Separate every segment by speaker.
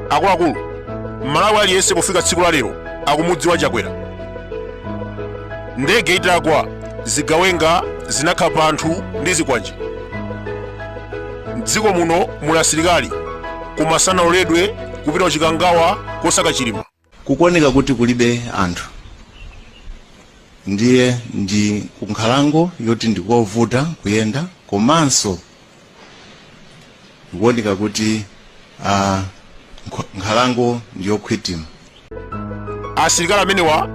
Speaker 1: akuluakulu mmalawi aliyense pofika tsiku la lero akumudziwa chakwera ndege itagwa zigawenga zinakhapa anthu ndi zikwanje mdziko muno muli asilikali koma sanaloledwe kupita kuchikangawa kosaka chilima Kukuoneka kuti kulibe anthu ndiye ndi kunkhalango yoti ndikovuta kuyenda komanso kukuoneka kuti uh, nkhalango ndiyokhwitima. Asilikali amenewa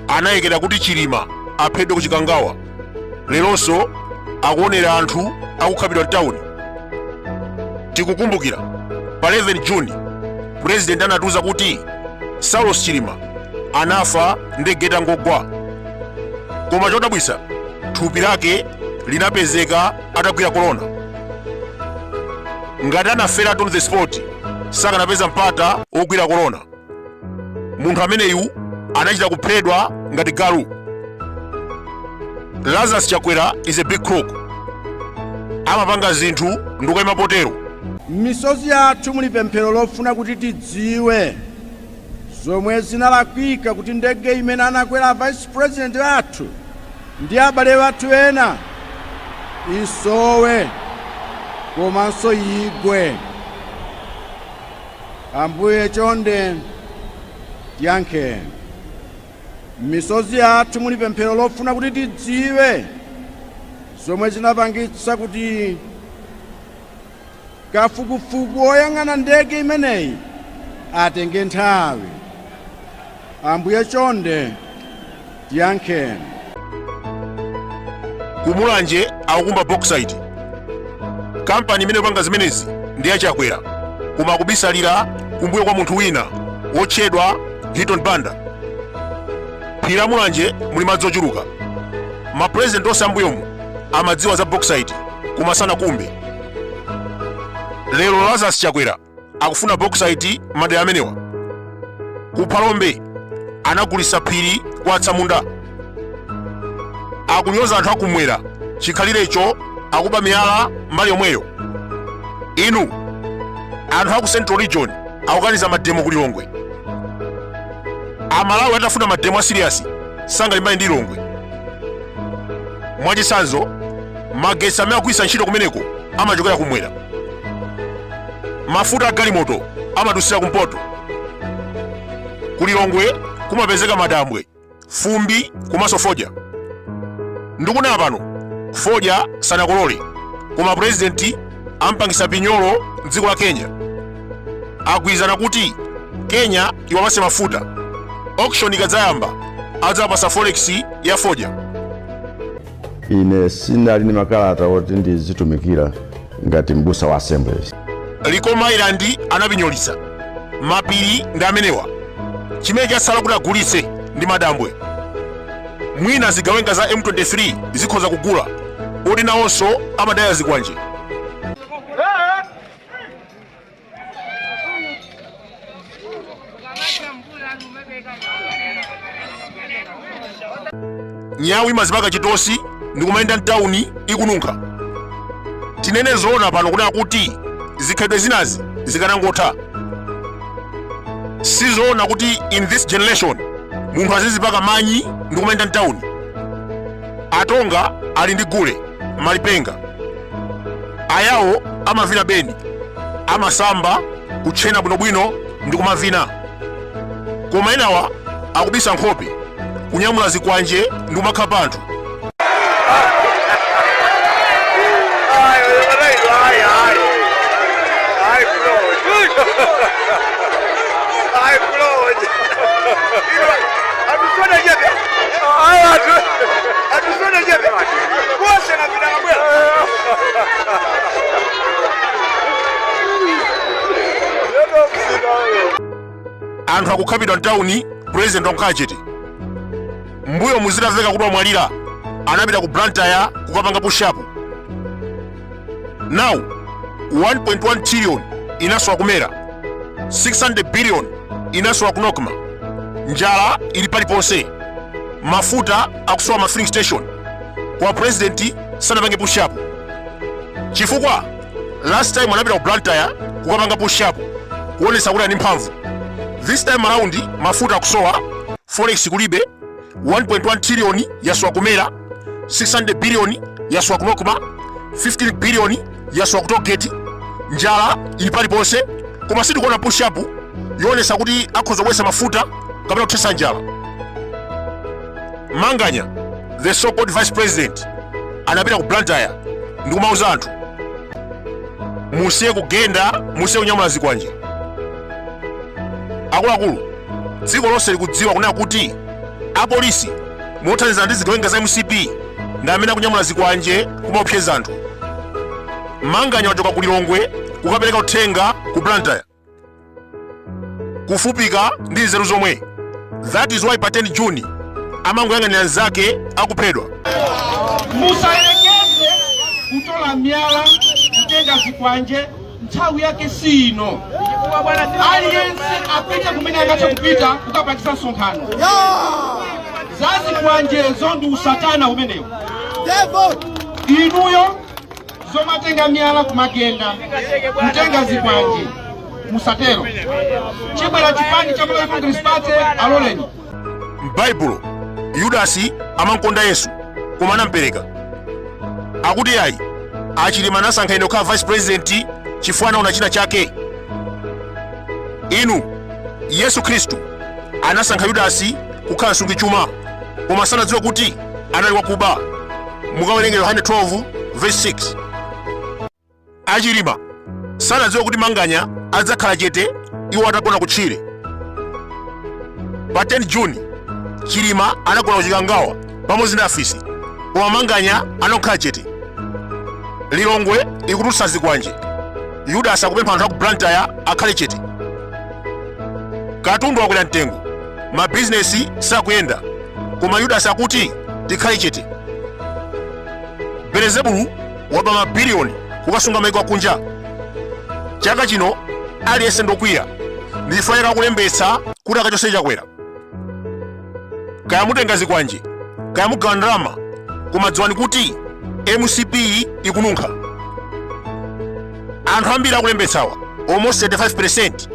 Speaker 1: analekera kuti Chilima apheredwe ku Chikangawa. leronso akuonera anthu akukhapidwa mtawuni tikukumbukira pa 11 juni purezidenti anatiuza kuti saulos chilima anafa ndege itangogwa koma chodabwitsa thupi lake linapezeka atagwira korona ngati anaferatu on the spot sakanapeza mpata wogwira korona munthu ameneyu anachita kupheredwa ngati galu lazarus chakwera is a big crook amapanga zinthu ndikuyima potero m'misozi yathu muli pemphero lofuna kuti tidziwe zomwe zinalakwika kuti ndege imene anakwera vice president athu ndi abale athu ena isowe komanso igwe Ambuye, chonde tiyankheni. M'misozi yathu muli pemphero lofuna kuti tidziwe zomwe zinapangitsa kuti kafukufuku woyang'ana ndege imeneyi atenge nthawi. Ambuye, chonde Tiyankheni. Ku Mulanje akukumba bauxite. Kampani imene ikupanga zimenezi ndi ya Chakwera koma akubisalira kumbuyo kwa munthu wina wotchedwa Hilton Banda. M'phiri la Mulanje muli madzi ochuluka. Mapurezidenti onse ambuyomu amadziwa za bauxite koma sanakumbe. Lero Lazarus Chakwera akufuna bauxite madera amenewa ku phalombe anagulisa phiri kwa atsamunda akunyoza anthu akumwera chikhalirecho akuba miyala mbali yomweyo inu anthu aku central region akukaniza mademo ku lilongwe amalawi atafuna mademo a serious sangalimbane ndi lilongwe mwachitsanzo magetsi amene akugwiritsa ntchito kumeneko amachokera kumwera mafuta a galimoto amadusira kumpoto ku lilongwe kumapezeka madambwe fumbi, komanso fodya ndikunena pano fodya sanakolole koma purezidenti ampangisa pinyolo mdziko la kenya agwirizana kuti kenya iwapatse mafuta auction ikadzayamba adzawapatsa forex ya fodya ine sindinali ndi makalata oti ndizitumikira ngati m'busa wa assemblies likoma island anapinyolitsa mapiri ndi amenewa chimene chatsala kuti agulitse ndi madambwe mwina zigawenga za m23 zikhoza kugula poti nawonso amadya zikwanje nyawu imazipaka kachitosi ndikumayenda mtawuni ikununkha tinene zoona pano kunena kuti zikhalidwe zinazi zikanangotha sizoona kuti in this generation munthu azizipaka manyi ndikumayenda mtawuni atonga ali ndi gule malipenga ayawo amavina beni amasamba kutchena bwinobwino ndi kumavina koma enawa akubisa nkhope kunyamula zikwanje ndi kumakhapa anthu anthu akukhapidwa mtawuni president wangokhala chete mbuyomu zitamveka kuti wamwalira anapita ku blantyre kukapanga pushapu now 1.1 trillion inasowa ku mera 600 billion inasowa ku nocma njala ili paliponse mafuta akusowa ma filling station koma president sanapange push up chifukwa last time anapita ku blantyre kukapanga push up kuonesa kuti ali ndi mphamvu this time around mafuta akusowa forex kulibe 1.1 trillion yasowa ku mera 600 billion yasowa ku nocma 15 billion yasowa ku toll gate njala ili paliponse koma sitikuona push up yoonesa kuti akhoza kubwesa mafuta kapena kuthesa njala manganya the so called vice president anapita ku blantyre ndi kumauza anthu musiye kugenda musiye kunyamula zikwanje akuluakulu dziko lonse likudziwa kunena kuti apolisi mothandizana ndi zigawenga za mcp ndi amene akunyamula zikwanje kumaopseza anthu manganya wachoka ku lilongwe kukapereka uthenga ku blantyre kufupika nzeru zomwe that is why pa 10 June amangoyang'anira nzake akuphedwa musayerekeze kutola myala kutenga zikwanje nthawi yake si ino aliyense apite kumene angathe kupita kukapangisa msonkhano zazikwanjezo ndi usatana umenewo inuyo zomatenga miyala kumagenda kutenga zikwanje musatero chikabwera chipani cha malawi congress party aloleni m'baibulo yudasi amankonda yesu koma anampereka akuti iyayi a Chilima anasankha ine kukhala vice president chifukwa anaona china chake inu yesu khristu anasankha yudasi kukhala msungichuma koma sanadziwa kuti anali wakuba mukawerenga yohane 12 verse 6 A Chilima sanadziwe kuti Manganya adzakhala chete iwo atagona kutchire. Pa 10 June, Chilima anagona ku Chikangawa pamodzi ndi afisi, koma Manganya anakhala chete. Lilongwe ikutulutsa zikwanje. Yudasi akupempha anthu a ku Blantyre akhale chete. Katundu wakwera mtengo, mabizinesi sakuyenda, koma Yudasi akuti tikhale chete. Belezebulu waba mabiliyoni kukasunga maiko akunja chaka chino aliyense ndokwiya ndi chifukwa akulembetsa kuti akachose chakwera kaya mutenga zikwanje kaya mugawa ndalama koma dziwani kuti mcp ikununkha anthu ambiri akulembetsawa almost 35 percent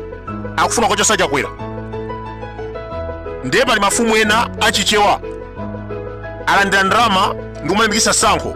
Speaker 1: akufuna kukachosa chakwera ndiye pali mafumu ena achichewa alandira ndalama ndi kumalimbikitsa tsankho